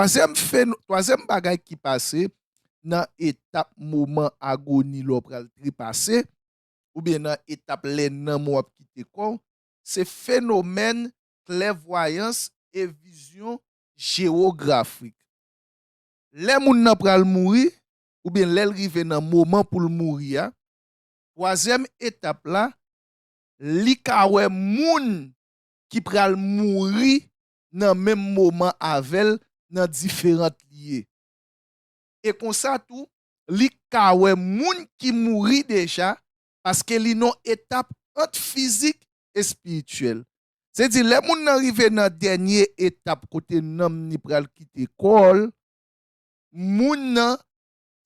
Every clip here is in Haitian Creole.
Twazyèm feno, twazyèm bagay ki pase nan etap moman agoni lè w pral trepase, oubyen nan etap lè nanm ou ap kite kò w, se fenomèn klèvwayans e vizyon jewografik. Lè moun nan pral mouri, oubyen lè l rive nan moman pou l mouri a, twazyèm etap la, li ka wè moun ki pral mouri nan menm moman avè l nan diferant lye. E konsa tou, li ka wè moun ki mouri deja paske li nan etap ant fizik, espirityèl. Se di lè moun nan rive nan dènye etap kote nanm ni pral kite kò l, moun nan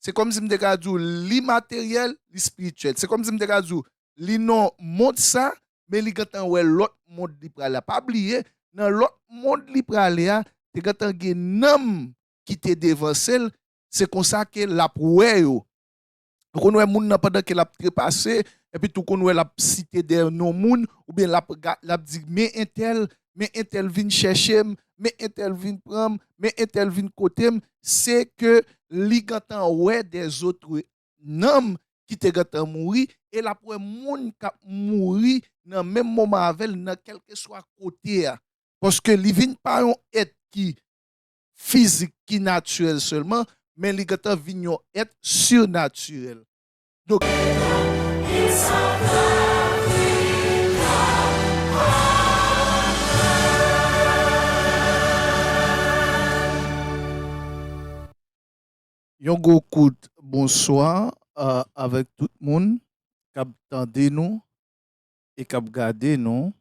Se kòmsi m te ka di w li materyèl, li espirityèl. Se kòmsi m te ka di w li nan mond sa a, men li gentan wè lòt mond li prale a. Pa bliye, nan lòt mond li prale a, te gentan gen nanm ki te devanse l, se konsa ke l ap wè yo. Ou konn wè moun nan pandan ke l ap trepase, epi tou ou konn wè l ap site dè non moun, oubyen l ap di men entèl, men entèl vin chèche m, men entèl vin pran m, men entèl vin kote m, se ke li gentan wè dè zotre nanm ki te gentan mouri e l ap wè moun k ap mouri nan menm moman avè l nan kèlkeswa kote a. Paske li vin pa yon èt ki fizik, ki natirèl sèlman, men li gentan vin yon èt sirnatirèl. Yon gwo kout bonswa avèk tout moun kap tande nou e kap gade nou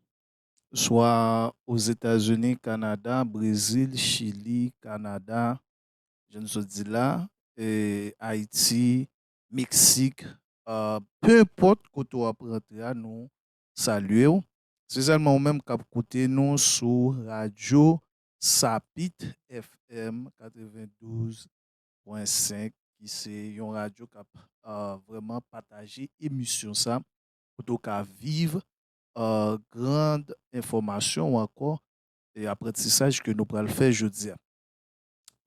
swa Ozetazini, Kanada, Brezil, Chili, Kanada, jan nou sot di la, Ayiti, Meksik Peu enpòt kote w ap rantre a nou salye w Spesyalman ou menm k ap koute nou sou radyo Sapit FM 92.5 ki se yon radyo k ap vrèman pataje emisyon sa kote w ka viv gran enfòmasyon ankò e aprantisaj ke nou pral fè jodi a.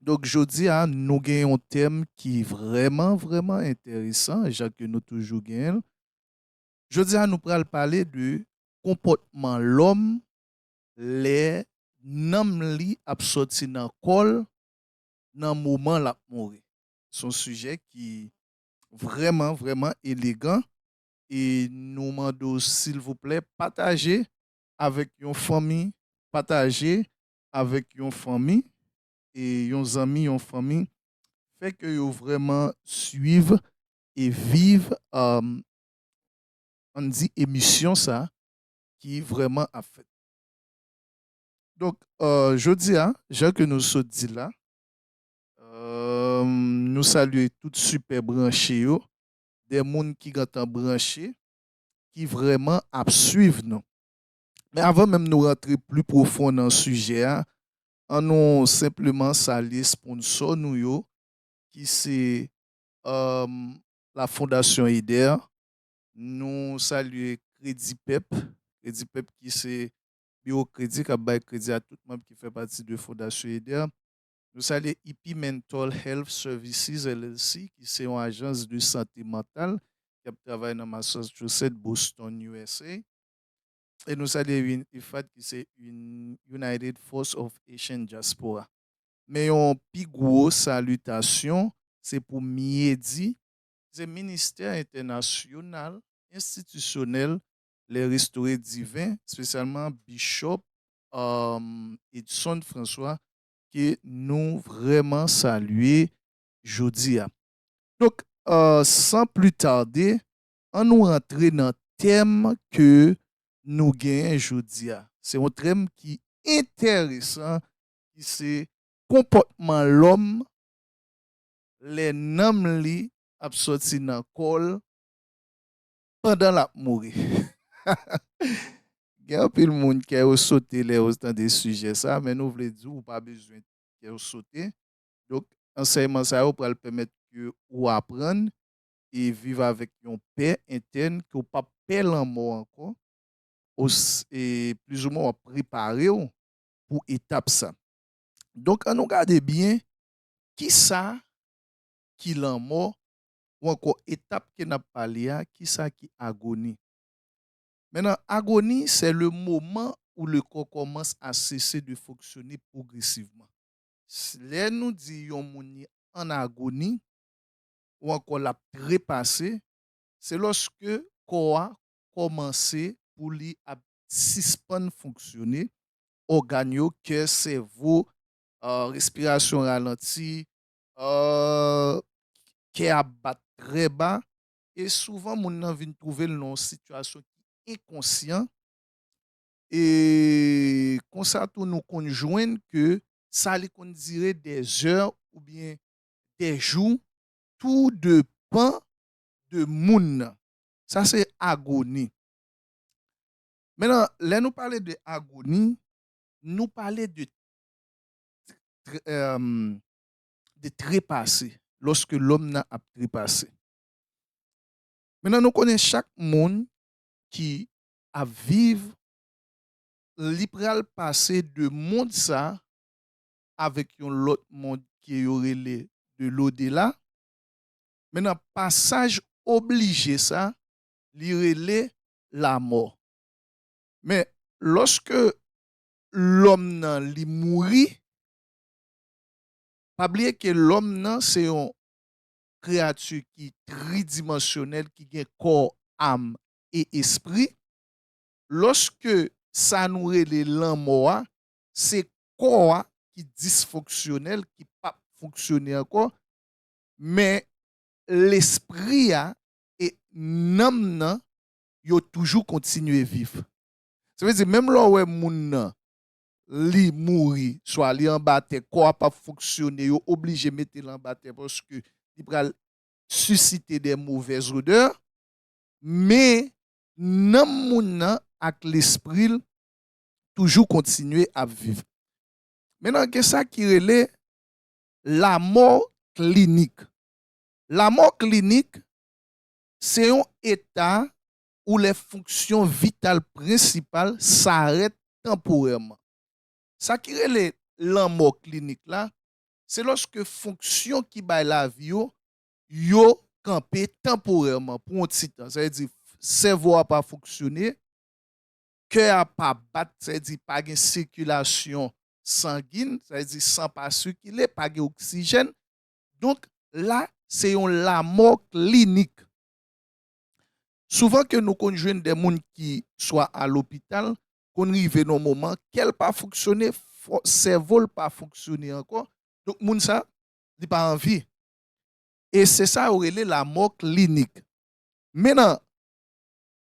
Donk jodi a nou gen yon tèm ki vrèman vrèman enteresan jan ke nou toujou gen l. Jodi a nou pral pale de konpòtman lòm lè nanm li ap sòti nan kò l nan moman l ap mouri. Se yon sijè ki vrèman vrèman elegan e nou mande w silvouplè pataje avèk yon fanmi, pataje avèk yon fanmi e yon zanmi yon fanmi fè ke yo vrèman swiv e viv ann di emisyon sa ki vrèman ap fèt. Donk jodi a jan ke nou sot di la nou salye tout sipè branche yo de moun ki gentan branche ki vrèman ap swiv nou. Men avan menm nou rantre pli pwofon nan sijè a, an nou senpleman salye sponsò nou yo ki se la Fondasyon Eder, nou salye Kredipep, Kredipep ki se biwo kredi k ap bay kredi a tout manm ki fè pati de Fondasyon Eder, nou salye IP Mental Health Services LLC ki se yon ajans de sante mantal ki ap travay nan Massachusetts, Boston, usa. e nou salye UNIFAD ki se United Force of Haitian Diaspora. Men yon pi gwo salitasyon se pou MIEDI, ki se Ministè Entènasyonal Enstitisyonèl Lè Restore Diven, spesyalman Bishop Edson François ke nou vrèman salye jodi a. Donk, san pli tarde, An nou rantre nan tèm ke nou genyen jodi a. Se yon trèm ki entèresan ki se konpòtman lòm lè nanm li ap sòti nan kò l pandan l ap mouri. Gen anpil moun kè yo sote lè yo tande sijè sa a men nou vle di w ou pa bezwen kè w sote. Donk ansèyman sa yo pral pèmèt ke ou aprann e viv avèk yon pè entèn ke w pap pè lanmò ankò, o e plizoumwen wap prepare w pou etap sa. Donk an nou gade byen kisa ki lanmò ou ankò etap ke nap pale a kisa ki agoni. Men nan agoni sè le moman ou le kò kòmans a sese de fonksyone pwogresivman. Lè nou di yon moun li an agoni, ou ankò l ap trepase, se lòske kò a kòmanse pou li ap sispann fonksyone, ògàn yo, kè, sèvo, respirasyon ralanti, kè ap bat trè ba, e souvan moun nan vin twouve l nan yon sitiyasyon ki enkonsyan, e konsa tou nou konn jwenn ke sa li konn dire dè zè oubyen dè jou tou de pan de moun nan. Sa se agoni. Men nan lè nou pale de agoni, nou pale de de trepase, lòske lòm nan ap trepase. Men nan nou konnen chak moun ki ap viv, li pral pase de mond sa avèk yon lòt mond ke yo rele de lodela, men nan pasaj oblije sa, li rele lamò. Men, lòske lòm nan li mouri, pa bliye ke lòm nan se yon kreyati ki tridimansyonèl ki gen kò, am e espri, lòske sa nou rele lanmò a se kò a ki disfonksyonèl, ki p ap fonksyone ankò, men lespri a e nanm nan yo toujou kontinye viv. Sa vle di menm lè w wè moun nan li mouri, swa li anba tè, kò a p ap fonksyone, yo oblije mete l anba tè paske li pral sisite de movèz odè, men nanm moun nan ak lespri l toujou kontinye ap viv. Men nan gen sa ki rele lamò klinik. Lamò klinik se yon eta ou lè fonksyon vital prensipal sarèt tanporèman. Sa ki rele lanmò klinik la, se lòske fonksyon ki bay lavi yo, yo kanpe tanporèman pou yon ti tan. Sa vle di sèvo a pa fonksyone, kè a pa bat, sa vle di pa gen sikilasyon sangin, sa vle di san pa sikile, pa gen oksijèn, donk la se yon lamò klinik. Souvan ke nou konn jwenn de moun ki swa a lopital, konn rive nan yon moman kè l pa fonksyone, sèvo l pa fonksyone ankò, donk moun sa li pa an vi. E se sa yo rele lamò klinik. Mennan,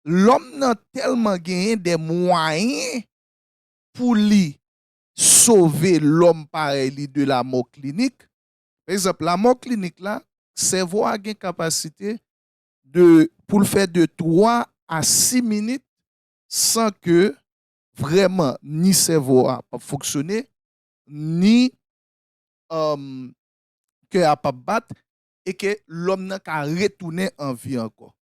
lòm nan tèlman genyen dè mwayen pou li sove lòm parèy li de lamò klinik. Pa egzanp, lamò klinik la, sèvo a gen kapasite de pou l fè de 3 a 6 minit san ke vrèman ni sèvo a pap fonksyone, ni kè a pap bat e ke lòm nan ka retounen an vi ankò.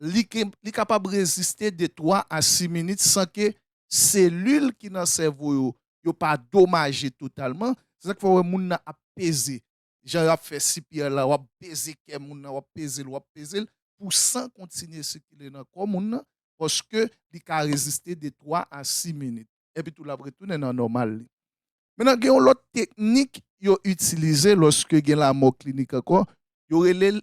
li kapab reziste de 3 a 6 minit san ke selil ki nan sèvo yo, yo pa domaje totalman. Se sa k fè ou wè moun nan ap peze. Jan yo ap fè CPR la, w ap peze kè moun nan, w ap peze l, w ap peze l, pou san kontinye sikile nan kò moun nan, paske li ka reziste de 3 a 6 minit. Epi tou l ap retounen nan nòmal li. Mentnan gen yon lòt teknik yo itilize lòske gen lamò klinik ankò, yo rele l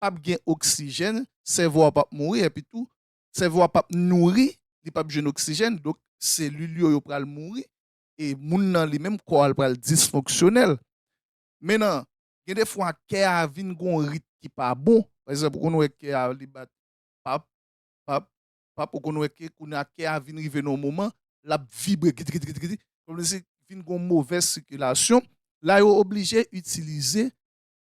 pap gen oksijèn, sèvo a pap mouri epi tou sèvo a pap nouri, li pap jwenn oksijèn donk selil yo yo pral mouri e moun nan li menm kò a l pral disfonksyonèl. Menan gen de fwa kè a vin gon rit ki pa bon, pa egzanp ou konn wè kè a li bat pap, pap, pap ou konn wè ke kounye a kè a vin rive nan yon moman lap vibre gidgidgidgidi kòmsi vin gon movèz sikilasyon la yo oblije itilize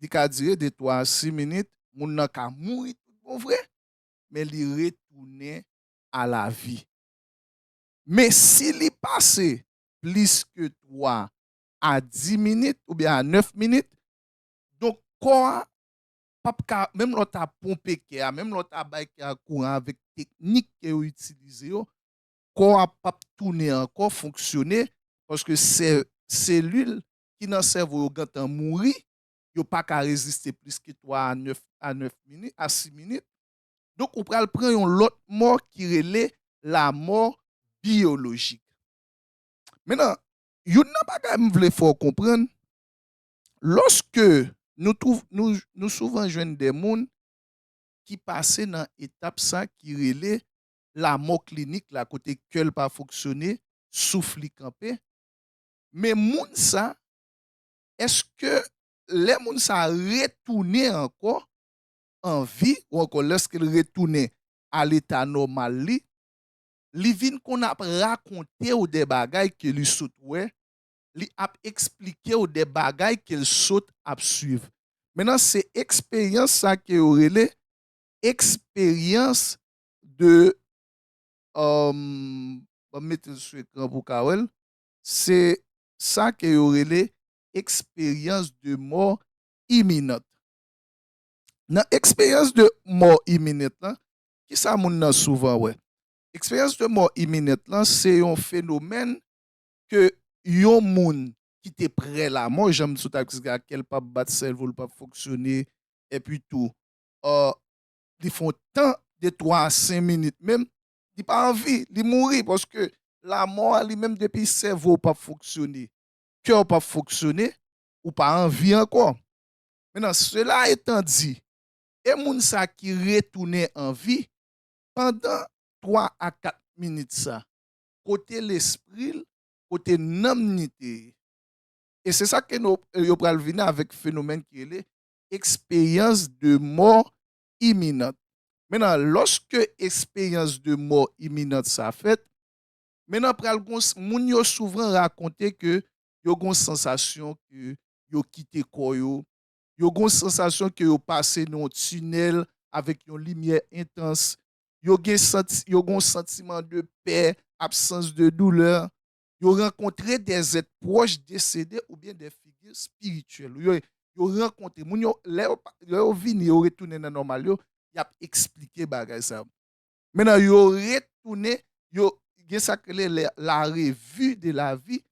li ka dire de 3 a 6 minit, moun nan ka mouri tout bon vre, men li retounen a la vi. Men si li pase plis ke 3 a 10 minit oubyen a 9 minit, donk kò a p ap ka, menm lè w ta ponpe kè a, menm lè w ta bay kè a kouran avèk teknik ke yo itilize yo, kò a p ap tounen ankò fonksyone, paske selil ki nan sèvo yo gentan mouri, yo pa ka reziste plis ke 3 a 9 a 9 minit, a 6 minit. Donk ou pral pran yon lòt mò ki rele lamò biyolojik. Mennan, youn nan bagay m vle fè w konprann, lòske nou twouv, nou, nou souvan jwenn de moun ki pase nan etap sa ki rele lamò klinik la, kote kè l pa fonksyone, souf li kanpe, Men moun sa, èske lè moun sa retounen ankò an vi ou ankò lèske l retounen a leta nòmal li, li vin konn ap rakonte ou de bagay ke li sot wè, li ap eksplike ou de bagay ke l sot ap swiv. Mennan se eksperyans sa ke yo rele eksperyans de, banm mete l sou ekran pou w ka wè l, Se sa ke yo rele eksperyans de mò iminant. Nan eksperyans de mò iminant lan, ki sa moun nan souvan wè? Eksperyans de mò iminant lan se yon fenomèn ke yon moun ki te prè lamò, jan m sot ap eksplike a, kè l pa p bat, sèvo l pa p fonksyone, epi tou li fè yon tan de 3 a 5 minit menm Li pa anvi, li mouri paske lamò a li menm depi sèvo w pap fonksyone, kè w pap fonksyone, ou pa anvi ankò. Mennan sela etan di, e moun sa ki retounen anvi, pandan 3 a 4 minit sa, kote lespri l, kote nanm ni te ye? E se sa ke yo pral vini avèk fenomèn ki rele eksperyans de mò iminant. Mennan, lòske esperyans de mò iminant sa fèt, mennan pral gon, moun yo souvran rakonte ke yo gon sansasyon ke yo kite kò yo, yo gon sansasyon ke yo pase nan yon tinèl avèk yon limyè entans, yo gen santi, yo gon santiman de pè, absans de doulè, yo rankontre de zèt pwòch desede oubyen de figi espirityèl yo, yo rankontre moun yo, lè yo vini yo retounen nan nòmal yo, y ap eksplike bagay sa yo. Mennen yo retounen, yo gen sa k rele le la revi de la vi,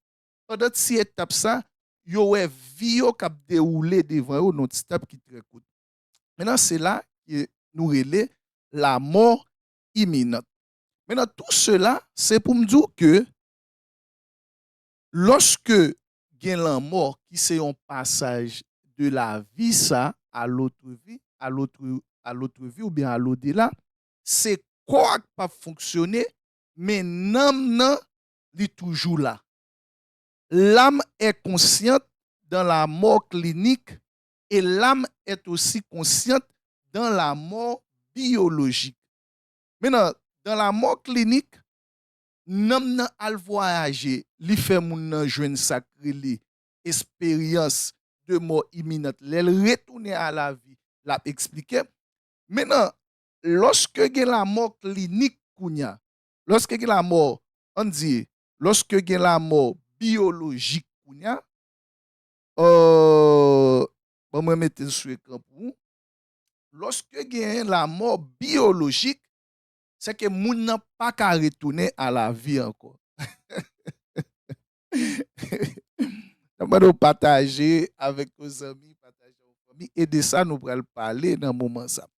pandan ti etap sa yo wè vi yo k ap dewoule devan yo nan yon ti tan ki trè kout. Mennen se la ke nou rele lamò iminant. Men nan tou sela, se pou m di w ke lòske gen lanmò ki se yon pasaj de lavi sa a lotre vi, a lotre, a lotre vi oubyen a lodela, se kò a k pa p fonksyone, men nanm nan li toujou la. L'âme est consciente dans la mort clinique et l'âme est aussi consciente dans la mort biologique. Men nan Dan la mò klinik, nanm nan al vwayaje, li fè moun nan jwenn sa k rele esperyans de mò iminant lè l retounen a lavi, l ap eksplike. Men nan Lòske gen lamò klinik kounye a, lòske gen lamò, an n di, lòske gen lamò biyolojik kounye a, ò, ban mwen mete l sou ekran pou ou, Lòske gen lamò biyolojik, sèke moun nan pa ka retounen a lavi ankò. Nap mande w pataje avèk yon zanmi, pataje yon fanmi, e de sa nou pral pale nan moman sa.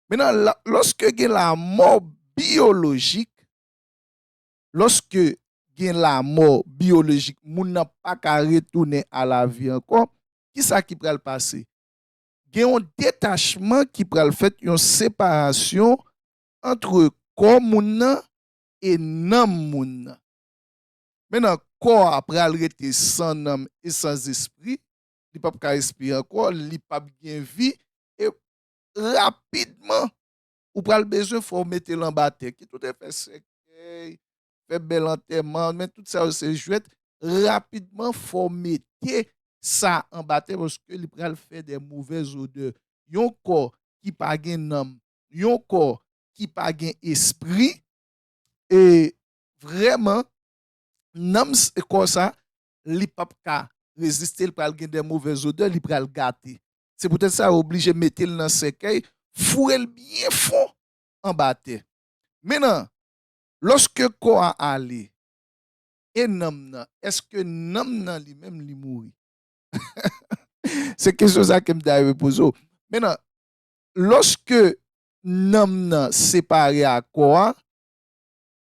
Menan, lòske gen lamò biyolojik, lòske gen lamò biyolojik, moun nan pa ka retounen a lavi ankò, kisa ki pral pase? gen yon detachman ki pral fèt, yon separasyon antre kò moun nan e nanm moun nan. Mennan kò a pral rete san nanm e san zespri, li pap ka respire ankò, li pap gen vi e rapidman ou pral bezwen fè w mete l anba tè. Ki tout efè sèkèy, fè bèl antèman, men tout sa yo se jwèt, rapidman fò w mete sa anba tè paske li pral fè de movèz odè. Yon kò ki pa gen nanm, yon kò ki pa gen espri, e vrèman nanm kò sa li p ap ka reziste, li pral gen de movèz odè, li pral gate. Se poutèt sa yo oblije mete l nan sèkèy, foure l byen fon anba tè. Mennan, Lòske kò a ale, e nanm nan, èske nanm nan li menm li mouri? Se kesyon sa ke m ta renmen poze w. Mennan, lòske nanm nan separe ak kò a,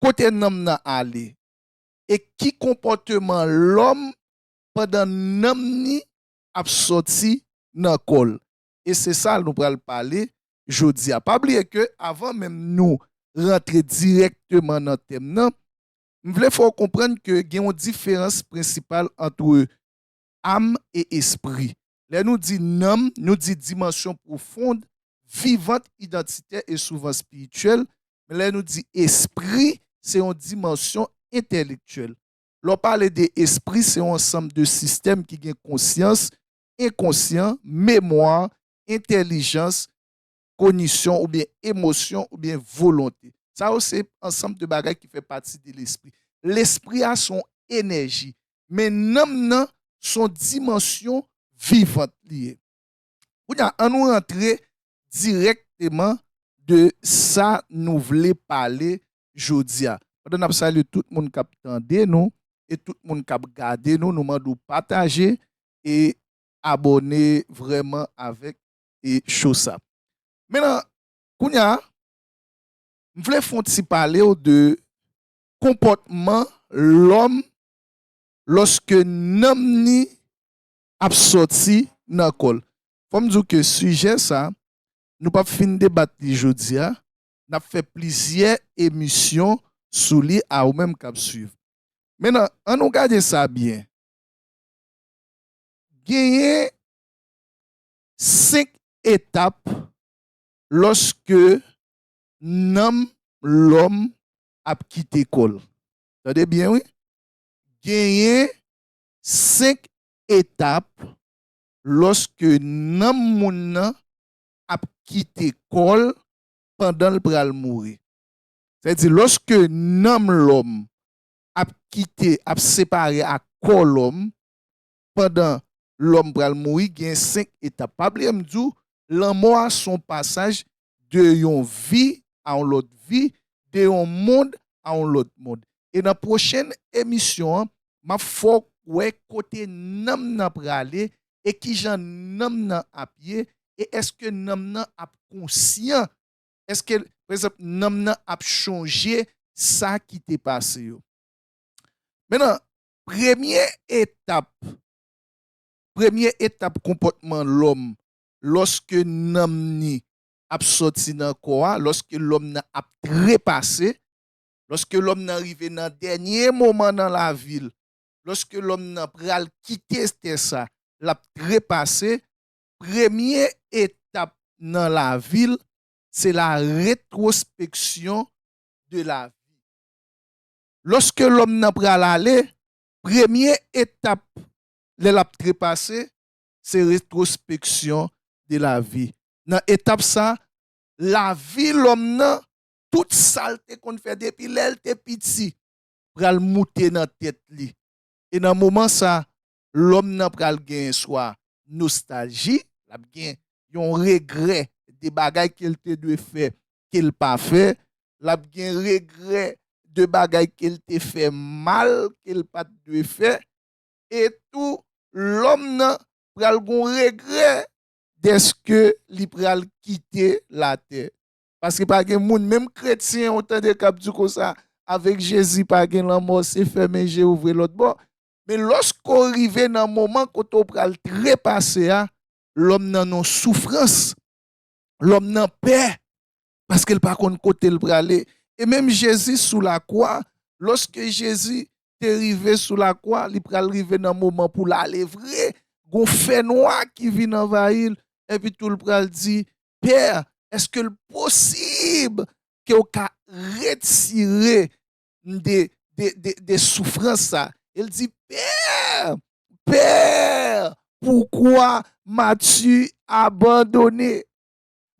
kote nanm nan ale? E ki konpòteman lòm pandan nanm ni ap sòti nan kò l? e se sa nou pral pale jodi a. Pa bliye ke avan menm nou rantre dirèkteman nan tèm nan, m vle fè w konprann ke gen yon diferans prensipal antre am e espri. Lè nou di nanm, nou di dimansyon pwofond, vivant, idantitè e souvan espirityèl, men lè nou di espri, se yon dimansyon entèlektyèl. Lè w pale de espri, se yon ansanm de sistèm ki gen konsyans, enkonsyan, memwa, entèlijans, konisyon oubyen emosyon oubyen volonte. Sa yo se ansanm de bagay ki fè pati de lespri. Lespri a son enèji, men nanm nan son dimansyon vivant li ye. Kounye a, an nou rantre dirèkteman de sa nou vle pale jodi a. Pandan n ap salye tout moun k ap tande nou e tout moun k ap gade nou, nou mande w pataje e abòne vrèman avèk e show sa. Men nan kounya m vle fon ti palew de konpòtman lòm lòske nanm ni ap sòti nan kòl. Fòm diw ke sijè sa nou pap fin debat li jodia nap fè plizyè emisyon sou li a ou menm kap swiv. Men nan an nou gade sa byen Genyen 5 etap lòske nanm lòm ap kite kò l. Tande byen wi. Genyen 5 etap lòske nanm moun nan ap kite kò l pandan l pral mouri. Sèdi lòske nanm lòm ap kite ap separe ak kò lòm pandan lòm pral mouri gen 5 etap pa bliye m di w lanmò a s on pasaj de yon vi a yon lòt vi de yon mond a yon lòt mond e nan pwochen emisyon an m ap fè w wè kote nanm nan prale e kijan nanm nan ap ye e èske nanm nan ap konsyan Eske, pa egzanp, nanm nan ap chonje sa ki te pase yo? Menan, premye etap, premye etap konpòtman lòm lòske nanm ni ap sòti nan kò a, lòske lòm nan ap trepase, lòske lòm nan rive nan dènye moman nan lavi l, lòske lòm nan pral kite tè sa, l ap trepase, Premye etap nan lavi l se la retrospeksyon de la vi. Lòske lòm nan pral ale, premye etap lè l ap trepase se retrospeksyon de la vi. Nan etap sa, lavi lòm nan, tout sa l te konn fè depi lè l te piti pral moute nan tèt li. E nan moman sa, lòm nan pral gen swa nostalji, l ap gen yon regrè de bagay ke l te dwe fè ke l pa fè, l ap gen regrè de bagay ke l te fè mal ke l pa t dwe fè, e tou lòm nan pral gen yon regrè dèske li pral kite latè. Paske pa gen moun, menm kretyen ou tande k ap di konsa, avèk Jezi pa gen lanmò, se fèmen je ouvri lòt bò. Men lòske w rive nan moman kote w pral trepase a, lòm nan nan soufrans, lòm nan pè, paske l pa konn kote l prale. E menm Jezi sou lakwa, lòske Jezi te rive sou lakwa, li pral rive nan moman pou l ale vre, gen yon fènwa ki vin anvayi l, epitou l pral di, Pè, èske l posib ke w ka retire m de de soufrans sa e l di Père! Père! Poukwa m'as-tu abandonné?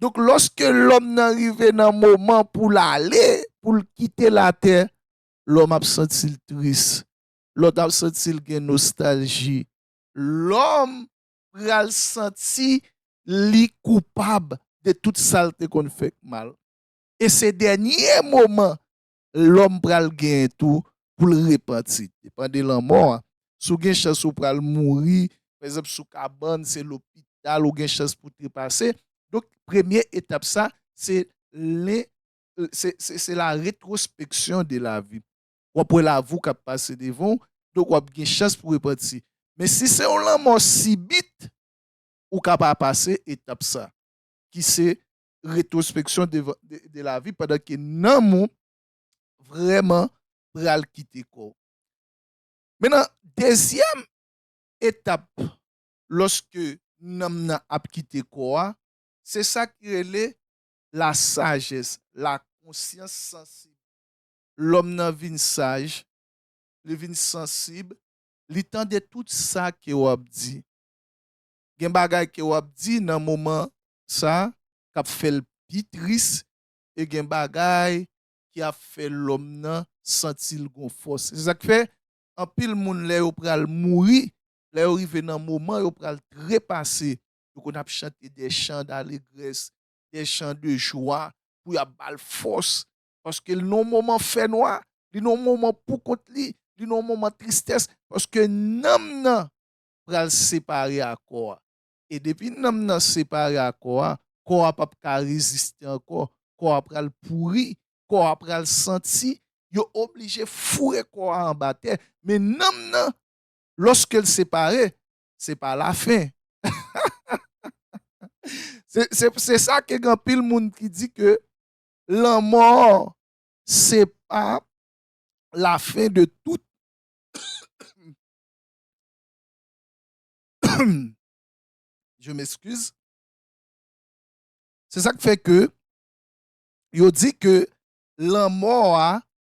Donk lòske lòm nan rive nan moman pou l ale, pou l kite latè, lòm ap santi l tris, lòm ap santi l gen nostalji, lòm pral santi li koupab de tout sa l te konn fè k mal. E se dènye moman lòm pral gen tou pou l repanti. Depan de lanmò a, si w gen chans ou pral mouri, pa egzanp sou kabann, se lopital ou gen chans pou trepase. Donk premye etap sa, se len, se, se, se la retrospeksyon de la vi. W ap wè lavi w k ap pase devan w, donk w ap gen chans pou repanti. Men si se yon lanmò sibit, ou ka pa pase etap sa, ki se retrospection de la vie pandan ke nanm ou vrèman pral kite kò w. Men nan dezyèm etap lòske nanm nan ap kite kò a, se sa ki rele la sagesse, la conscience sensible. Lòm nan vin saj, li vin sansib, li tande tout sa ke w ap di. gen bagay ke wap di nan moman sa kap fèl pi tris e gen bagay ki ap fè lòm nan santil gon fòs se sak fè anpil moun lè yo pral mouri lè yo rive nan moman yo pral trepase yo konn ap chante dè chan dalegrès dè chan de jwa pou yap bal fòs paske li nan moman fè nwa li nan moman poukont li li nan moman tristès paske nanm nan pral separe a kò a. E depi nanm nan separe a kò a, kò a pap ka reziste ankò, kò a pral pouri, kò a pral santi, yo oblije foure kò a anba tè. Men nanm nan, lòske l separe, se pa lafen. Se sa ke gen anpil moun ki di ke lanmò se pa lafen de tout Je m'excuse. Se sa k fè ke yo di ke lanmò a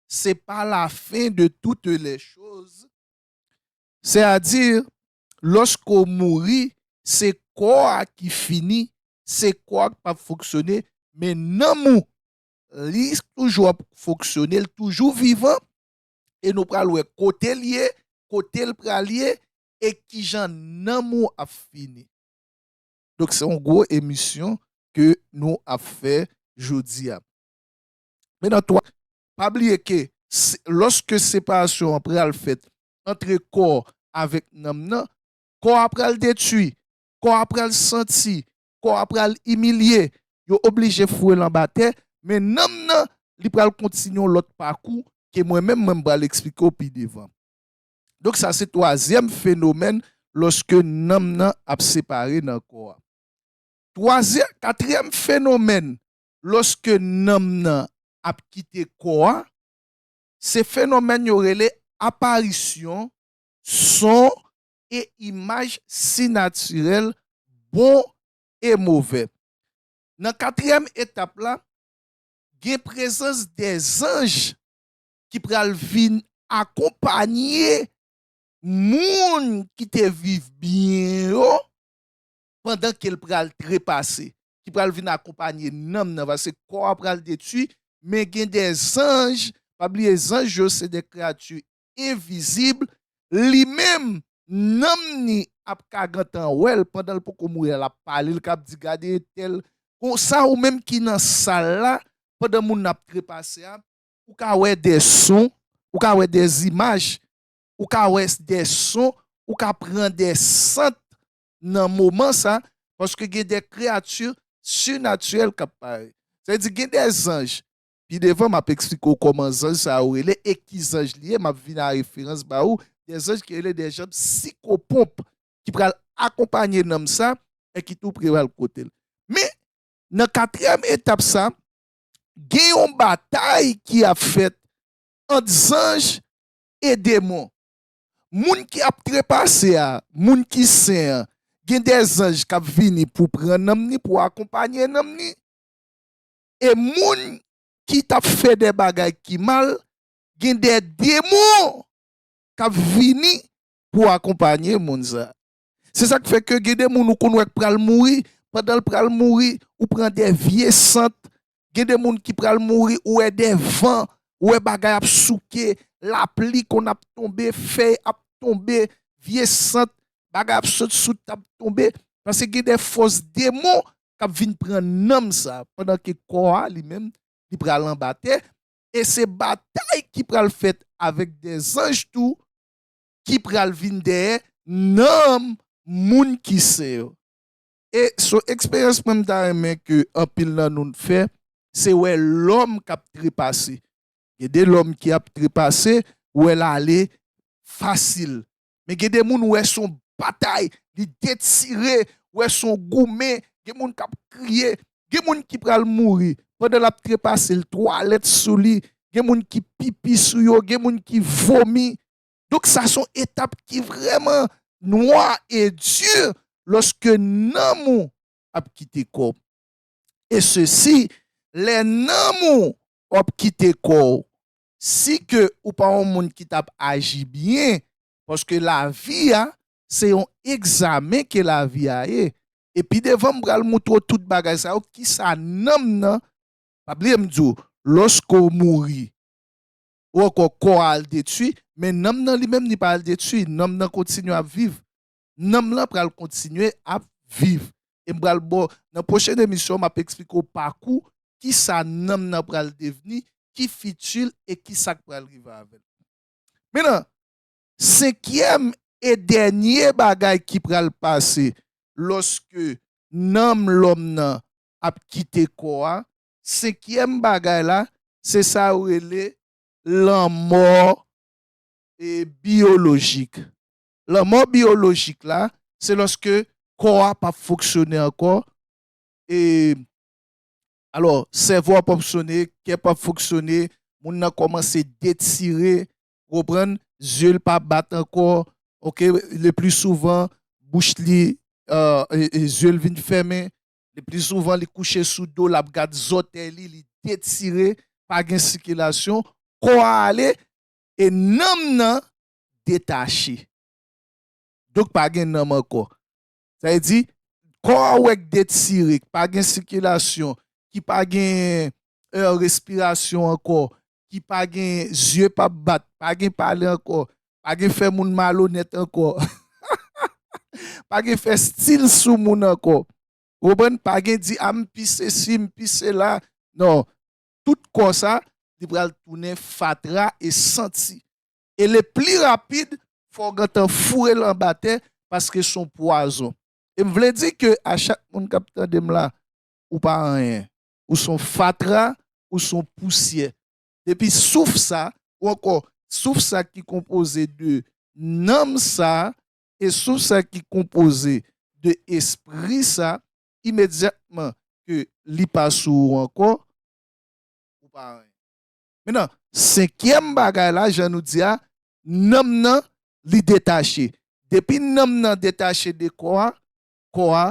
se pa la fin de toutes les choses, sè a di lòske w mouri se kò a ki fini, se kò a k pa p fonksyone men nanm ou li toujou ap fonksyone, li toujou vivan e nou pral wè kote l ye, kote l pral ye e kijan nanm ou ap fini. Donk se yon gwo emisyon ke nou ap fè jodi a. Men nan tou, pa bliye ke lòske separasyon an pral fèt antre kò avèk nanm nan, kò a pral detwi, kò a pral santi, kò a pral imilye, yo oblije foure l anba tè, men nanm nan, li pral kontinye yon lòt pakou ke mwen menm, mwen pral eksplike w pi devan. Donk sa se twazyèm fenomèn lòske nanm nan ap separe nan kò a. Twazyè, katriyèm fenomèn lòske nanm nan ap kite kò a, se fenomèn yo rele aparisyon son e imaj sinatirèl bon e movè. Nan katriyèm etap la, gen prezans de zanj ki pral vin akonpanye moun ki te viv byen yo pandan ke l pral trepase, ki pral vin akonpanye nanm nan, paske kò a pral detwi, men gen de zanj, pa bliye zanj yo se de kreyati envizib, li menm, nanm ni ap ka gentan wè l pandan l poko mouri a, l ap pale, l ka ap di gade entèl, konsa ou menm ki nan sal la, pandan moun nan ap trepase a, ou ka wè de son, ou ka wè de zimaj, ou ka wè de son, ou ka pran de sant nan moman sa, paske gen de kreyati sinatirèl k ap parèt. Sa vle di gen de zanj Pi devan, m ap eksplike w kòman zanj sa yo rele e ki zanj li ye. M ap vin a referans ba ou de zanj ki rele de janm sikoponp ki pral akonpanye nanm sa e ki tou prewal kote l. Men, nan katriyèm etap sa, gen yon batay ki ap fèt ant zanj e demon. Moun ki ap trepase a, moun ki sen an, gen de zanj k ap vini pou pran nanm ni, pou akonpanye nanm ni. e moun ki t ap fè de bagay ki mal gen de demon k ap vini pou akonpanye moun sa. Se sa k fè ke gen de moun ou konn wè k pral mouri, pandan l pral mouri ou pran de vye sant, gen de moun ki pral mouri ou wè de van, ou wè bagay ap souke, lapli konn ap tonbe, fèy ap tonbe, vye sant, bagay ap sot sou tab tonbe, paske gen de fòs demon k ap vin pran nanm sa a pandan ke kò a li menm li pral anba tè e se batay ki pral fèt avèk de zanj tou ki pral vin dèyè nanm moun ki sen yo. E s on eksperyans mwen m ta renmen ke anpil nan nou n fè, se wè lòm k ap trepase. Gen de lòm ki ap trepase, ou wè l ale fasil, men gen de moun ou wè son batay li detire ou wè son goumen gen moun kap kriye gen moun ki pral mouri pandan lap trepase l twalèt sou li gen moun ki pipi sou yo gen moun ki vomi donk sa son etap ki vrèman nwa e di lòske nanm ou ap kite kò w e sesi lè nanm ou wap kite kò w si ke ou pa yon moun ki tap aji byen paske lavi a se yon egzamen ke lavi a ye e pi devan m pral moutre w tout bagay sa yo kisa nanm nan pa bliye m di w loske w mouri ou ankò kò a al detwi men nanm nan li menm li pa al detwi nanm nan kontinye ap viv nanm lan pral kontinye ap viv e m pral ba w nan pwochen emisyon m ap eksplike w pakou kisa nanm nan pral devni ki fiti l e kisa k pral rive avè l menan senkyèm e dènye bagay ki pral pase lòske nanm lòm nan ap kite kò a senkyèm bagay la se sa yo rele lanmò e biyolojik Lanmò biyolojik la se lòske kò a pap fonksyone ankò e alò sèvo a pap fonksyone, kè pap fonksyone, moun nan kòmanse detire, ou konprann, zye l pa bat ankò ok, le pli souvan bouch li zye l vin fèmen, le pli souvan li kouche sou do l ap gad zòtèy li, li detire, pa gen sikilasyon, kò a ale e nanm nan detache. Donk pa gen nanm ankò. Sa vle di, kò a wè k detire, k pa gen sikilasyon, ki pa gen èr respirasyon ankò, ki pa gen zye p ap bat, pa gen pale ankò, pa gen fè moun malonèt ankò, pa gen fè stil sou moun ankò. Ou konprann? Pa gen di a m pi sesi, m pi sela. Non. Tout kò sa, li pral tounen fatra e santi. e le pli rapid fò w gentan foure l anba tè paske s on pwazon. E m vle di ke a chak moun k ap tande m la, ou pa anyen. Ou s on fatra, ou s on pousyè. Depi souf sa, ou ankò souf sa ki konpoze de nanm sa e souf sa ki konpoze de espri sa, imedyatman ke li pa sou ou ankò, ou pa anyen. Mentnan, senkyèm bagay la, jan nou di a, nanm nan li detache. Depi nanm nan detache de kò a, kò a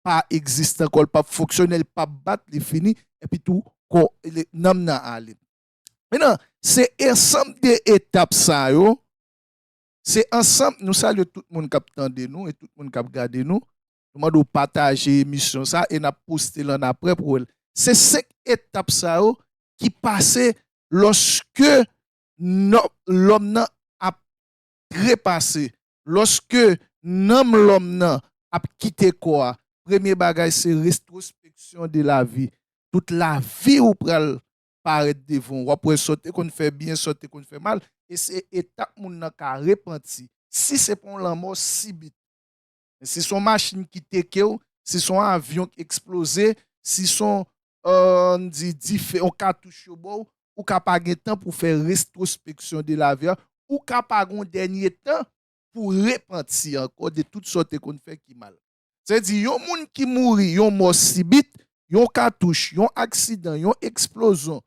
pa egziste ankò, li pap fonksyone, li pap bat, li fini, epi tou kò, nanm nan ale. Mentnan, se ensanm de etap sa yo, se ansanm, nou salye tout moun k ap tande nou e tout moun k ap gade nou, Nou mande w pataje emisyon sa e nap poste l annapre pou w wè l. Se 5 etap sa yo ki pase lòske lòm nan ap trepase, lòske nanm lòm nan ap kite kò a. Premye bagay se retrospection de la vie. Tout lavi ou pral parèt devan w. Wap wè sa w te konn fè byen, sa w te konn fè mal e se etap moun nan ka repanti. Si se pa yon lanmò sibit. Men si son machin ki tekew, si son avyon ki eksploze, si son ann di dife yon katouch yo baw, ou ka pa gen tan pou fè retrospeksyon de la vi a, ou ka pa gon dènye tan pou repanti ankò de tout sa w te konn fè ki mal. Sa vle di yon moun ki mouri yon mò sibit, yon katouch, yon aksidan, yon eksplozon,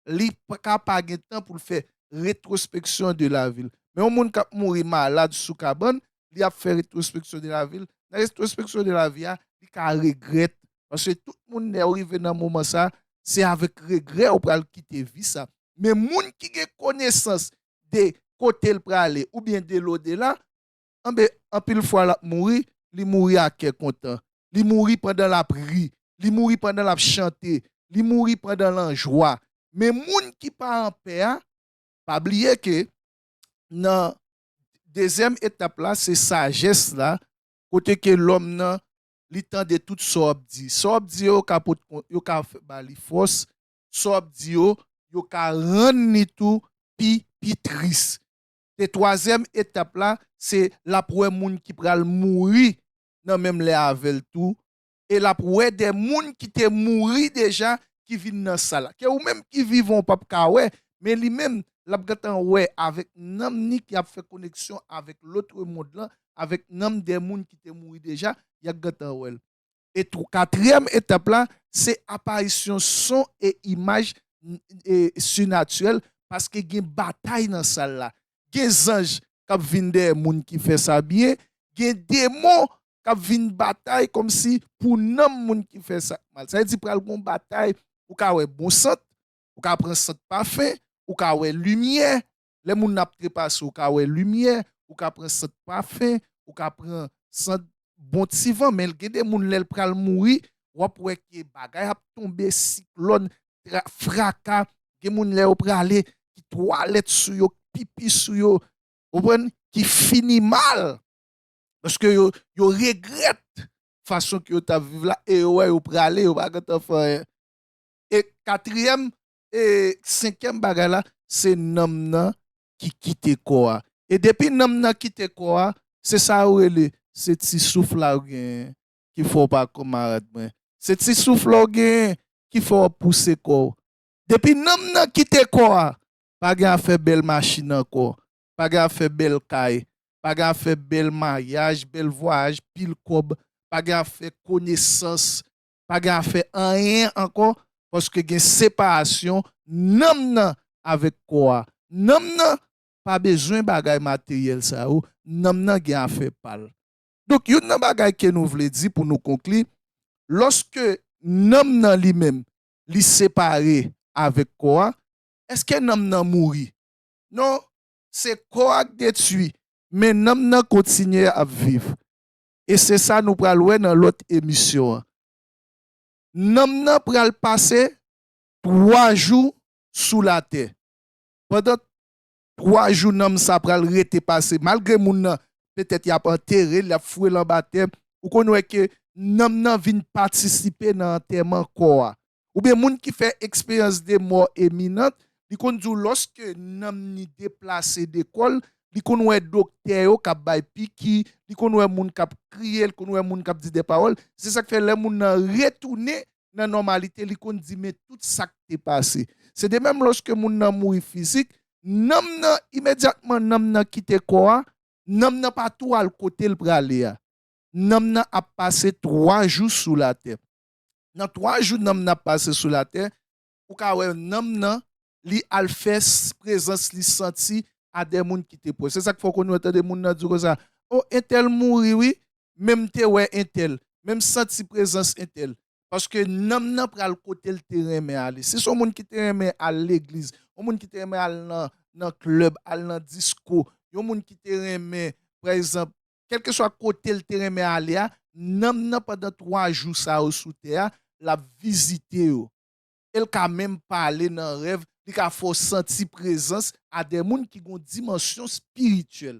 li ka pa gen tan pou l fè retrospeksyon de lavi l. Men yon moun k ap mouri malad sou kabann, li ap fè retrospeksyon de lavi l. Nan retrospeksyon de lavi a, li ka regrèt. Paske tout moun lè yo rive nan moman sa, se avèk regrè yo pral kite vi sa. Men moun ki gen konesans de kote l prale oubyen de lodela, Anben, anpil fwa l ap mouri, li mouri ak kè kontan. Li mouri pandan l ap ri. Li mouri pandan l ap chante. Li mouri pandan l anjwa. Men moun ki pa anpè a, pa bliye ke nan dezyèm etap la, se sajès la, kote ke lòm nan, li tande tout sa w ap di. Sa w ap di yo, yo ka ba li fòs. Sa w ap di yo, yo ka rann li tou pi tris. E twazyèm etap la, se l ap wè moun ki pral mouri nan menm lè avè l tou, e l ap wè de moun ki te mouri deja ki vin nan sa la, ke ou menm ki vivan ou p ap ka wè, men li menm, l ap gentan wè avèk nanm ni ki ap fè koneksyon avèk lotremond lan, avèk nanm de moun ki te mouri deja, y ap gentan wè l. E katriyèm etap la, se aparisyon son e imaj sinatirèl paske gen batay nan sal la. Gen zanj k ap vin dèyè moun ki fè sa byen, gen demon k ap vin batay kòmsi pou nanm moun ki fè sa mal. Sa vle di pral gen yon batay, ou ka wè bon sant, ou ka pran sant pafen, ou ka wè limyè, Lè moun nan ap trepase ou ka wè limyè, ou ka pran sant pafen, ou ka pran sant bon ti van men gen de moun lèl pral mouri wap wè ke bagay ap tonbe siklòn, tra, fraka, gen moun lè yo prale ki twalèt sou yo, ki pipi sou yo, ou konprann, ki fini mal paske yo yo regrèt fason ke yo tap viv la e yo wè yo prale yo pa gentan fè anyen e katriyèm E senkyèm bagay la, se nanm nan ki kite kò a. E depi nanm nan kite kò a, se sa yo rele, se ti souf la ou genyen ki fè w pa kanmarad mwen. Se ti souf la ou genyen ki fè w ap pouse kò w. Depi nanm nan kite kò a, pa gen afè bèl machin ankò, pa gen afè bèl kay, pa gen afè bèl maryaj, bèl vwayaj, pil kòb, pa gen afè konesans, pa gen afè anyen ankò paske gen separasyon nanm nan avèk kò a. Nanm nan pa bezwen bagay materyèl sa yo, nanm nan gen afè pa l. Donk youn nan bagay ke nou vle di pou nou konkli, lòske nanm nan li menm li separe avèk kò a, èske nanm nan mouri? Non, se kò a k detwi, men nanm nan kontinye ap viv. e se sa nou pral wè nan lòt emisyon an. Nanm nan pral pase twa jou sou latè. Pandan twa jou nanm sa pral rete pase, malgre moun nan petèt y ap antere l, y ap foure l anba tè, ou konn wè ke nanm nan vin patisipe nan antèman kò a. oubyen moun ki fè eksperyans de mò eminant, li konn di w lòske nanm ni deplase de kò l, li konn wè doktè yo k ap bay piki, li konn wè moun k ap kriye, li konn wè moun k ap di de pawòl. Se sa k fè lè moun nan retounen nan nòmalite, li konn di men tout sa k te pase. Se de menm lòske moun nan mouri fizik, nanm nan, imedyatman nanm nan kite kò a, nanm nan pa tou al kote l prale a. Nanm nan ap pase twa jou sou latè. nan 3 jou nanm nan ap pase sou latè ou ka wè nanm nan li al fè prezans li santi a dè moun ki te pwòch se sak fè ou konn wè tande moun nan di w konsa o entèl mouri wi men m te wè entèl men m santi prezans entèl paske nanm nan pral kote l te renmen ale si se yon moun ki te renmen al legliz yon moun ki te renmen al nan nan klèb al nan disko yon moun ki te renmen pa egzanp Kèlkeswa kote l te renmen ale a, nanm nan pandan twa jou sa yo sou tè a, l ap vizite yo. E l ka menm pale nan rèv, li ka fè w santi prezans a de moun ki gen yon dimansyon espirityèl.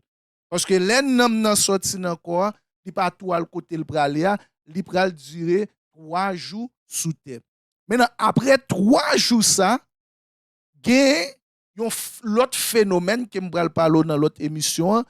Paske lè nanm nan sòti nan kò a, li pa tou al kote l prale a, li pral dire twa jou sou tè. Mennen, apre twa jou sa, gen yon lòt fenomèn ke m pral pale w nan lòt emisyon an,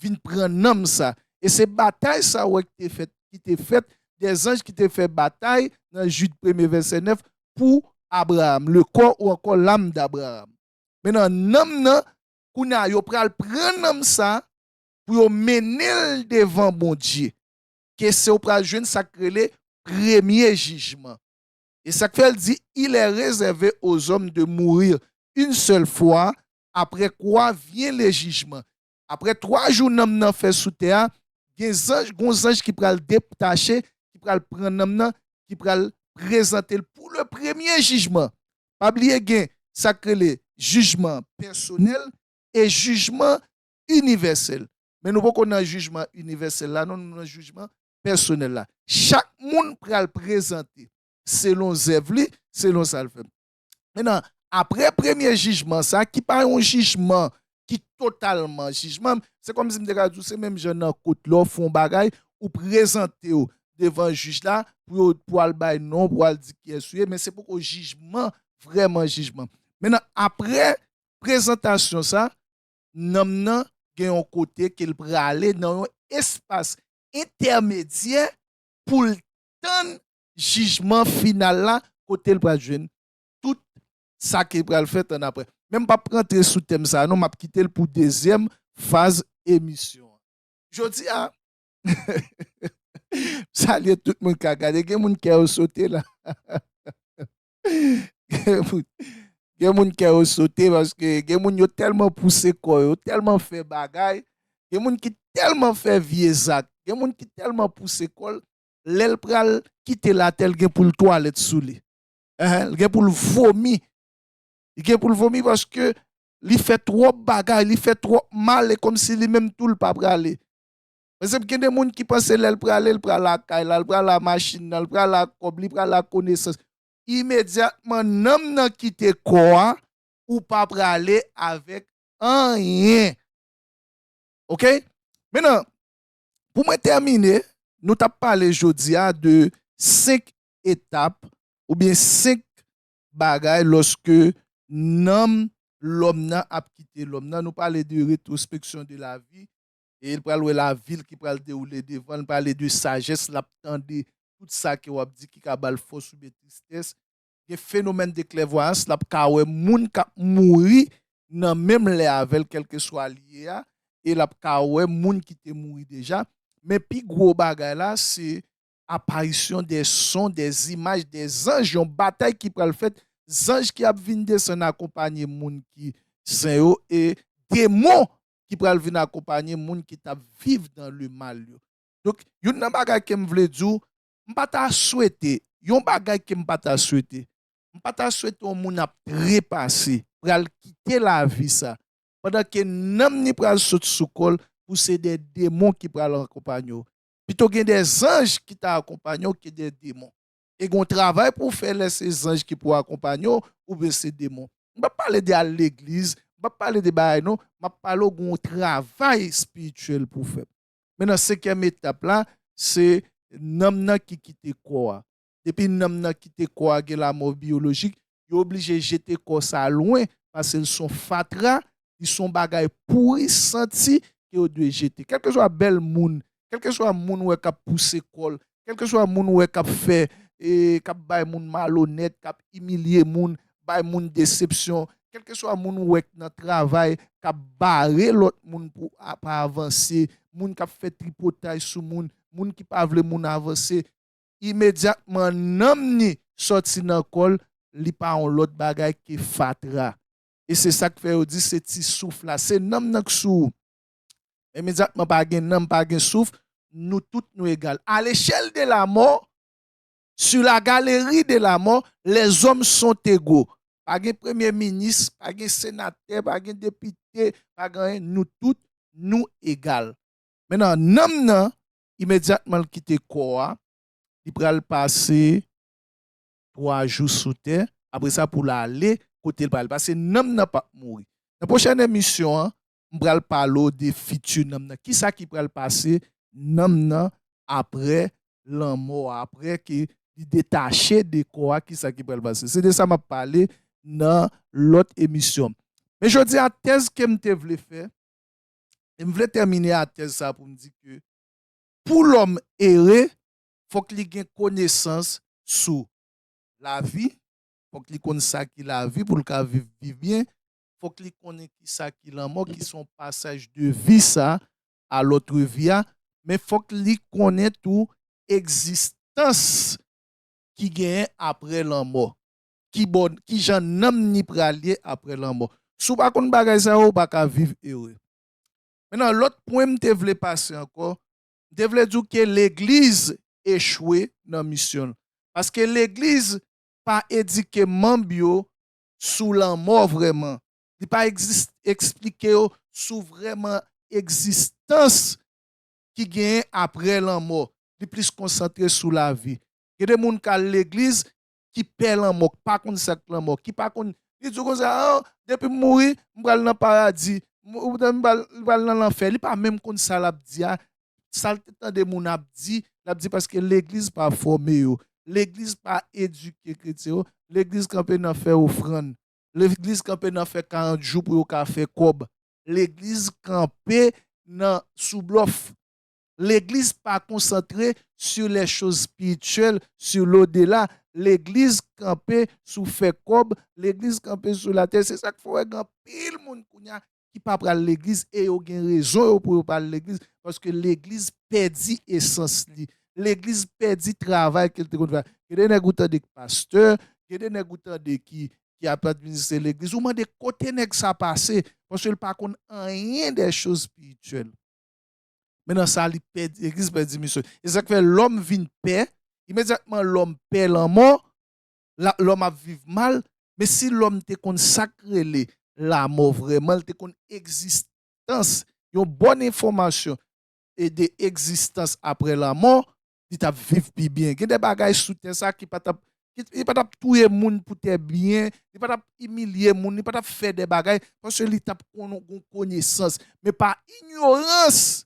vin pran nanm sa. E se batay sa ou wè ki te fèt, ki te fèt, dè zanj ki te fè batay, nan Jid premye vèsè 9, pou Abraam, le kò ou ankò lam d'Abraam. Mennan nanm nan, kounye a yo pral pran nanm sa pou yo mennen l devan Bondye. Ke se ou pral jwenn sa k rele premye jijman. E sa k fè l di, Il est réservé aux hommes de mourir une seule fois, après quoi vient le jugement. Apre twa jou nanm nan fè sou tè a, gen zanj, gon zanj ki pral detache, ki pral pran nanm nan, ki pral prezante l pou le premye jijman. Pa bliye gen sa k rele jijman pèsonèl e jijman inivèsèl. Men nou poko nan jijman inivèsèl la non, nou nan jijman pèsonèl la. Chak moun pral prezante selon zèv li, selon sa l fè. Menan, apre premye jijman sa, ki pa yon jijman ki totalman jijman, se kòm si m te ka di w, se menm jan nan kot lè w fè yon bagay, ou prezante w devan jij la pou yo, pou al bay non w, pou al di kiyès ou ye, men se poko jijman, vrèman jijman. Menan, apre prezantasyon sa, nanm nan gen yon kote ke l prale nan yon espas entèmedyè pou l tann jijman final la kotel pral jwenn tout sa ki pral fèt annapre. Men m pap rantre sou tèm sa non map kitel pou dezyèm faz emisyon an. Jodi a m salye tout moun kap gade gen moun kè yo sote la gen moun kè yo sote paske gen moun yo tèlman pouse kò yo tèlman fè bagay gen moun ki tèlman fè vye zak gen moun ki tèlman pouse kòl lèl pral kite latè l gen poul twalèt sou li eeh l gen poul vomi li gen poul vomi paske li fè twòp bagay li fè twòp mal e kòmsi li menm tou l pa prale paske gen de moun ki panse lèl prale l pral ak kay la l pral ak machin nan l pral ak kòb li pral ak konesans imedyatman nanm nan kite kò a ou pa prale avèk anyen ok men nan Pou mwen tèmine, nou t ap pale jodi a de 5 etap oubyen 5 bagay lòske nanm lòm nan ap kite lòm nan. Nou pale de retrospeksyon de lavi, e l pral wè lavi l ki pral dewoule devan l, pale de sajès l ap tande tout sa ke w ap di ki ka ba l fòs oubyen tristès. gen fenomèn de klèvwayans lap ka wè moun kap mouri nan menm lè avèl kèlkeswa li ye a e lap ka wè moun ki te mouri deja men pi gwo bagay la se aparisyon de son de zimaj de zanj yon batay ki pral fèt zanj ki ap vin desann akonpanye moun ki sen yo e demon ki pral vin akonpanye moun ki tap viv dan le mal yo donk youn nan bagay kem vle diw m pa ta swete, yon bagay ke m pa ta swete, m pa ta swete yon moun ap trepase, pral kite lavi sa, pandan ke nanm ni pral sot sou kò l, pou se de demon ki pral akonpanye w. Pito gen de zanj ki ta akonpanye w ke de demon. E gen yon travay pou w fè lè se zanj ki pou akonpanye w, oubyen se demon. M pa p pale de al legliz, m pa p pale de bagay non, m ap pale w gen yon travay espirityèl pou w fè. Men nan senkyèm etap la, se nanm nan ki kite kò a. Depi nanm nan kite kò a, gen lamò biyolojik, yo oblije jete kò sa a lwen pase l se yon fatra, li se yon bagay pouri, santi ke yo dwe jete. Kèlkeswa bèl moun, kèlkeswa moun ou wè k ap pouse kò l, Kèlkeswa moun ou wè k ap fè, k ap bay moun malonèt, k ap imilye moun, bay moun desepsyon, kèlkeswa moun ou wè k nan travay, k ap bare lòt moun pou pa avanse, moun k ap fè tripotay sou moun, moun ki pa vle moun avanse, imedyatman nanm ni sòti nan kò l, li pa yon lòt bagay ke fatra. E se sa k fè yo di se ti souf la. Se nanm nan k sou ou. Imedyatman pa gen nanm, pa gen souf, nou tout nou egal. A lechèl de lamò, sur la galerie de la mort, les hommes sont égaux. Pa gen premye minis, pa gen senatè, pa gen depite, pa gen anyen, nou tout nou egal. Mennan, nanm nan, imedyatman l kite kò a, li pral pase 3 jou sou tè, apre sa pou l ale kote l pral. Pase nanm nan pap mouri. Nan pwochèn emisyon an, m pral pale w de fiti nanm nan, kisa ki pral pase nanm nan apre lanmò a, apre ke li detache de kò a, kisa ki pral pase. Se de sa m ap pale nan lòt emisyon. Men jodi a, tèz ke m te vle fè, e m vle tèmine a tèz sa pou m di ke pou lòm ere, fòk li gen konesans sou lavi, fòk li konn sa ki lavi pou l ka viv byen, fòk li konnen ki sa ki lanmò, ki son pasaj de vi sa a lòtre vi a, men fòk li konnen tou egzistans ki genyen apre lanmò, ki bò, ki jan nanm ni pral ye apre lanmò. Si w pa konn bagay sa yo, ou pa ka viv ere. Mentnan, lòt pwen m te vle pase ankò, m te vle di w ke legliz echwe nan misyon l, paske legliz pa edike manb yo sou lanmò vrèman. Li pa esplike yo sou vrèman egzistans ki genyen apre lanmò. Li plis konsantre sou lavi. Gen de moun k al legliz ki pè lanmò, k pa konn sa k lanmò, ki pa konn. Li di w konsa, an, depi m mouri, m pral nan paradi, oubyen m pral nan lanfè. Li pa menm konn sa l ap di a, Sal te tande moun ap di, lap di paske legliz pa fòme yo, legliz pa edike kretyen yo, legliz kanpe nan fè ofrann, legliz kanpe nan fè 40 jou pou yo ka fè kòb, legliz kanpe nan sou blòf, legliz pa konsantre sur les choses spirituelles, sur l'au-delà, legliz kanpe sou fè kòb, legliz kanpe sou latè, se sak fè wè gen anpil moun kounya ki pa pral legliz e yo gen rezon yo pou yo pa al legliz paske legliz pèdi esans li legliz pèdi travay ke li te konn fè gen de nèg ou tande ki pastè gen de nèg ou tande ki ap administre legliz ou mande kote nèg sa pase paske li pa konn anyen de choz espirityèl men nan sa li pèdi legliz pèdi misyon e se sa ki fè lòm vin pè imedyatman lòm pè lanmò lòm ap viv mal, men si lòm te konn sa k rele lamò vrèman, l te konn egzistans, yon bòn enfòmasyon de egzistans aprè lamò, li t ap viv pi byen. Gen de bagay sou tè sa ki pa t ap, li pa t ap touye moun pou tè byen, li pa t ap imilye moun, li pa t ap fè de bagay, paske li t ap konn gon konesans. Men pa inyorans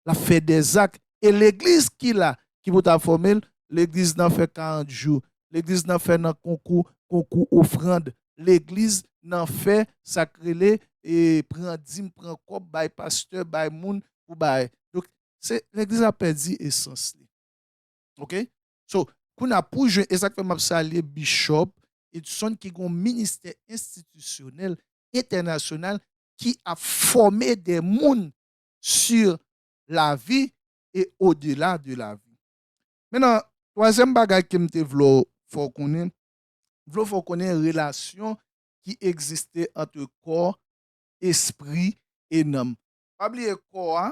lap fè dè zak e legliz ki la ki pou ta fòme l legliz nan fè 40 jou legliz nan fè nan konkou konkou ofrand legliz nan fè sak rele pran dim pran kòb bay pastè bay moun pou bay donk se legliz la pèdi esans li ok so kounye a pou jwenn esak fè map salye bishòp Edson ki gon ministè enstitisyonèl entènasyonal ki ap fòme dè moun sur la vie et au delà de la vie. Menan, twazyèm bagay ke m te vle w fè w konnen, m vle w fè w konnen relasyon ki egziste antre kò, espri e nanm. Pa bliye kò a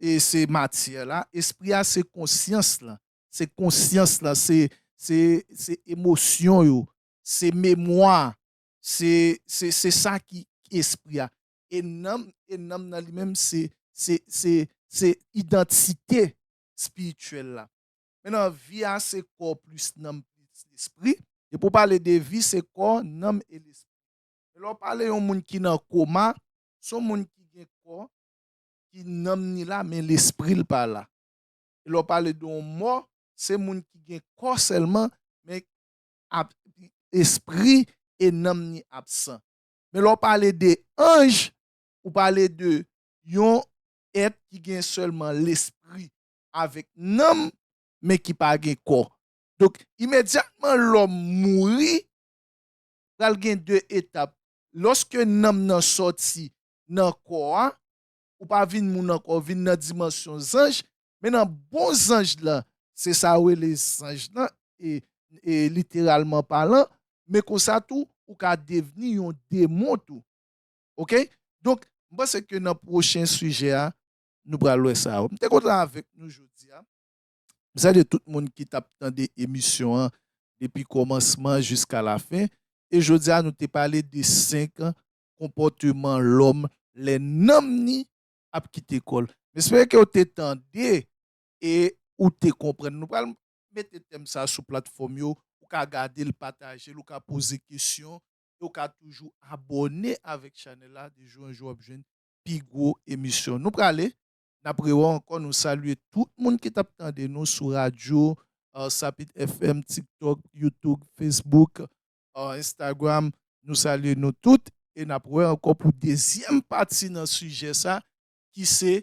e se matyè la, espri a se konsyans lan, se konsyans lan, se se se emosyon yo, se memwa, se se se sa ki espri a. E nanm, e nanm nan li menm se, se, se, se idantite espirityèl la. Mennan vi a se kò plis nanm plis lespri. Depi ou pale de vi se kò, nanm e lespri. Men lè ou pale yon moun ki nan koma, se yon moun ki gen kò, ki nanm ni la men lespri l pa la. E lè ou pale de yon mò, se moun ki gen kò sèlman men ap, espri e nanm ni absan. Men lè w pale de anj, ou pale de yon èt ki gen sèlman lespri avèk nanm, men ki pa gen kò. Donk, imedyatman lòm mouri, pral gen de etap. Lòske nanm nan sòti nan kò a, ou pa vin moun ankò, ou vin nan dimansyon zanj, Men nan bon zanj lan, se sa yo rele zanj lan, e literalman palan, men konsa tou, ou ka devni yon demon tou. Ok? Donk, m panse ke nan pwochen sijè a, nou pral wè sa yo. M te kontan avèk nou jodi a. M salye tout moun ki t ap tande emisyon an depi kòmansman jiska lafen. E jodi a nou te pale de 5 konpòteman lòm lè nanm ni ap kite kò l. M espere ke w te tande e ou te konprann. Nou pral mete tèm sa sou platfòm yo, ou ka gade l, pataje l, ou ka poze kesyon e ou ka toujou abòne avèk chanèl la. De jou an jou w ap jwenn pi gwo emisyon. Nou prale, n ap rewè w ankò. Nou salye tout moun ki t ap tande nou sou radyo, sa pit FM, TikTok, Youtube, Facebook, Instagram nou salye nou tout e nap wè ankò pou dezyèm pati nan sijè sa ki se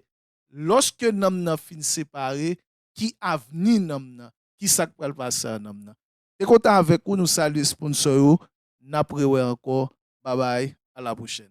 lòske nanm nan fin separe ki avni nanm nan ki sak pral pase a nanm nan te kontan avèk ou nou salye sponsò yo nap rewè ankò babay a la pwochèn.